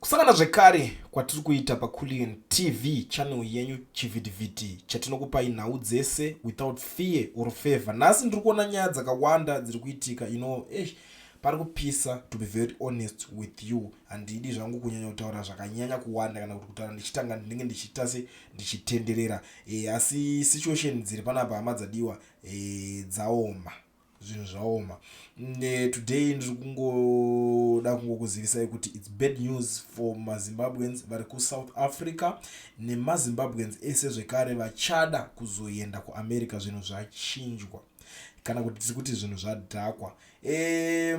Kusangana zvekare kwatiri kuita paCullion TV channel yenyu chivhitivhiti chatinokupai nhau dzese without fear or favor. Nhasi ndiri kuona nyaya dzakawanda dziri kuitika you know, eish, pari kupisa to be very honest with you. Handidi zvangu kunyanya kutaura zvakanyanya kuwanda kana kuti kutaura ndichitanga ndinenge ndichiita se ndichitenderera. E, asi situation dziri panapa hama dzadiwa e, dzaoma. zvinhu zvaoma ne today ndiri kungoda kungokuzivisai kuti its bad news for mazimbabweans vari kusouth africa nemazimbabweans ese zvekare vachada kuzoenda kuamerica zvinhu zvachinjwa kana kuti tiri kuti zvinhu zvadhakwa e,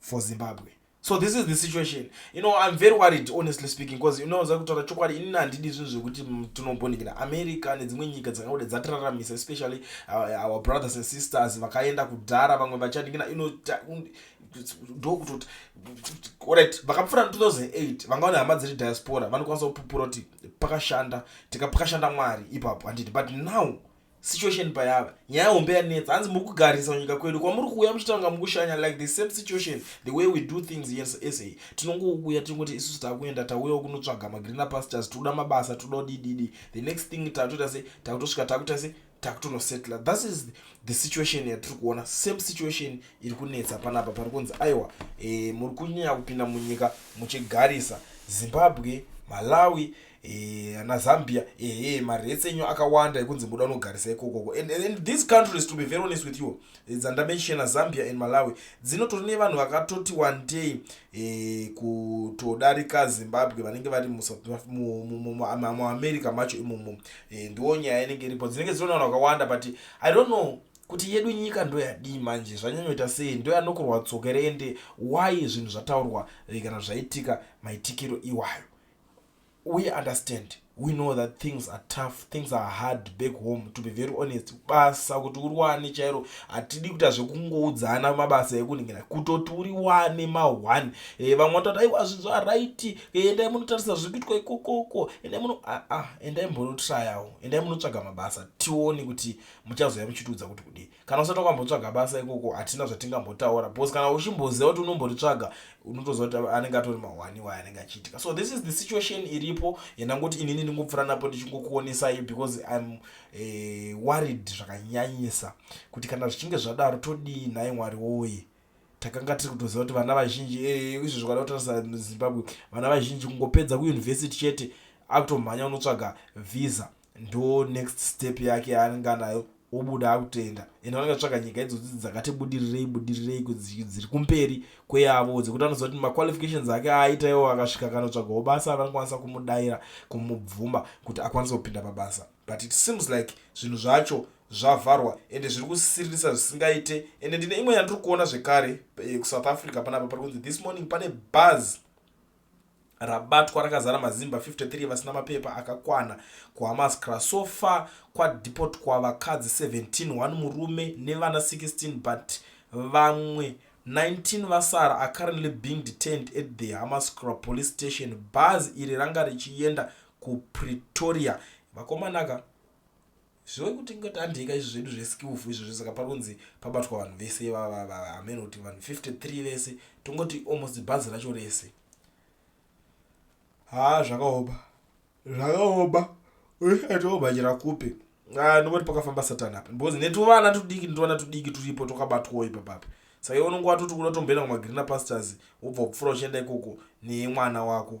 for zimbabwe so this is the situation you know i'm very worried honestly speaking because you know zakutaura chokwadi inini handidi zvinhu zvekuti tinobhonikira america nedzimwe nyika dzakauda dzatiraramisa especially uh, our brothers and sisters vakaenda kudhara vamwe vachaningina you know ndokutoti orit vakapfura na 2008 vanga vane hama dziri diaspora vanokwanisa kupupura kuti pakashanda tikapakashanda mwari ipapo handiti but now situation payava nyaya hombe yanetsa hanzi muri kugarisa nyika kwedu kwamuri kuuya muchitanga mukushanya like the same situation the way we do things yes sa tinongouya tingoti isusu takuenda tauyawo kunotsvaga magreener pastures tikuda mabasa tikuda kudididi the next thing tatoita se takutosvika takuita se takutonosettla thus is the situation yatiri kuona same situation iri kunetsa panapa pari kunzi aiwa e, muri kunyanya kupinda munyika muchigarisa zimbabwe malawi Eh, ana zambia ehe marets enyu akawanda ekunzi muda unogarisa ikokoko and, and these countries to be very honest with you eh, dzandamenshena zambia and malawi dzinotori nevanhu vakatoti one day eh, kutodarika zimbabwe vanenge vari muamerica macho imomo eh, ndiwo nyaya inenge iripo dzinenge dzino nevanhu vakawanda but i don't know kuti yedu nyika ndoyadii manje zvanyanyoita sei ndoyanokurwa tsoka here ende why zvinhu zvataurwa eh, kana zvaitika maitikiro iwayo we understand we know that things are tough things are hard back home to be very honest basa kuti uri wane chairo hatidi kuita zvekungoudzana mabasa ekuningira kutoti uri wane maone e, eh, vamwe vatoti aiwa zvinhu araiti eh, endai munotarisa zviri kuitwa ikokoko endai muno aa ah, ah, endai mbonotrayawo endai munotsvaga mabasa tione kuti muchazouya muchitiudza kuti kudii kana usati wakambotsvaga basa ikoko hatina zvatingambotaura because kana uchimboziva kuti unomboritsvaga unotoziva kuti anenge atori mahwani waye anenge achiitika so this is the situation iripo yandangoti inini ndingopfura napo ndichingokuonesai because im uh, eh, worried zvakanyanyisa kuti kana zvichinge zvadaro todii nhai mwari woye takanga tiri kutoziva kuti vana vazhinji eh, izvo zvikada kutarisa muzimbabwe vana vazhinji kungopedza kuuniversity chete akutomhanya unotsvaga visa ndo next step yake yaanenge anayo obuda akutoenda and vanenge vatsvaga nyika idzodzi dzakati budirirei budirirei dziri kumberi kweyavo dzekuti anoziva kuti maqualifications ake aaita iwo akasvika kanotsvagawo basa vanokwanisa kumudaira kumubvuma kuti akwanise kupinda pabasa But it seems like zvinhu zvacho zvavharwa ende zviri kusiririsa zvisingaite ende ndine imwe yandiri kuona zvekare eh, kusouth africa panapa pari kunzi this morning pane bhaz rabatwa rakazara mazimba 53 vasina mapepa akakwana kuhamascra so far kwadepot kwavakadzi 17 one murume nevana 16 but vamwe 19 vasara are currently being detained at the hamascra police station bhaz iri ranga richienda kupretoria vakomana ka zvive kuti ngotandeika izvi zvedu zveskillful izvi zvese ka paronzi pabatwa vanhu vese amene kuti vanhu 53 vese tongoti almost bhazi racho rese haa zvakaoma zvakaoma atoobhajira kupi ah, ndobati pakafamba satani apa because netuvana tudiki netuvana tudiki turipo tokabatwawo ipapapi saka iwe unonge watoti kuda tomboenda kumagrina pastors wobva kupfura uchienda ikoko nemwana wako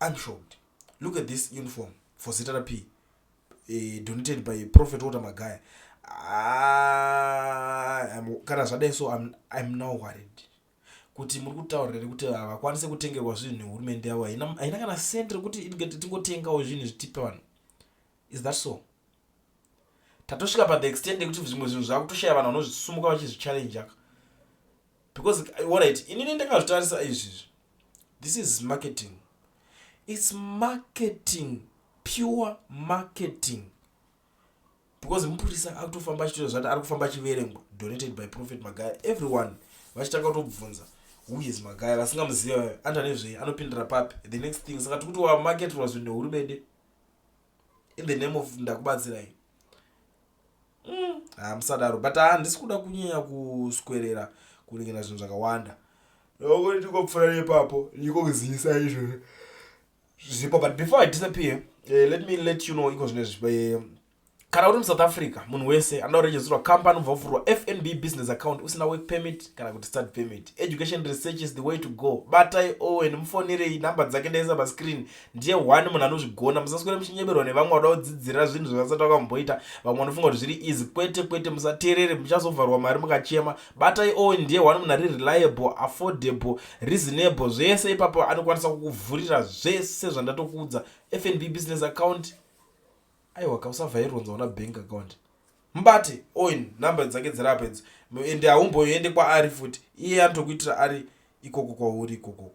Unshort. Look at this uniform for zita ra P. Eh, donated by Prophet Walter Magaya. Ah, kana zvadai so I'm, I'm now worried kuti muri kutaurira rekuti havakwanise kutengerwa zvinhu nehurumende yavo haina kana sent rekuti tingotengawo zvinhu zvitipe vanhu is that so tatosvika pathe extend yekuti zvimwe zvinhu zvakutoshaya vanhu vanozvisumuka vachizvichallenja ka because orit inini ndakazvitarisa izvizvi this is marketing its marketing pure marketing because mupurisa akutofamba achitoita zvati ari kufamba achiverengwa donated by prophet magaya everyone vachitanga kutobvunza huyes magaya vasingamuziva vayo anta nezvei anopindira papi the next thing saka tikuti wamarketirwa zvinhu nehurumende in the name of ndakubatsirai mm. ah, musadaro but handisi ah, kuda kunyanya kuswerera kuningina zvinhu zvakawanda nokuri tikopfura nepapo ndikokuzivisa izvozvo zvipo but before i disappear uh, let me let you know iko zvine zvipo eh, kana uri musouth africa munhu wese anoda kuregistrwa company ubva ufurwa fnb business account usina work permit kana kuti start permit education research is the way to go batai owen mufonerei number dzake ndaisa pascreen ndiye one munhu anozvigona musaswere muchinyeberwa nevamwe vada kudzidzira zvinhu zvavasati vakamboita vamwe vanofunga kuti zviri easy kwete kwete musateerere muchazovharwa mari mukachema batai owen ndiye one munhu ari reliable affordable reasonable zvese ipapo anokwanisa kukuvhurira zvese zvandatokuudza fnb business account aiwa ka usavhaironza una bank account mubate owen number dzake dzirapo idzo and haumboyoende kwaari futi iye anotokuitira ari ikoko kwauri ikokoko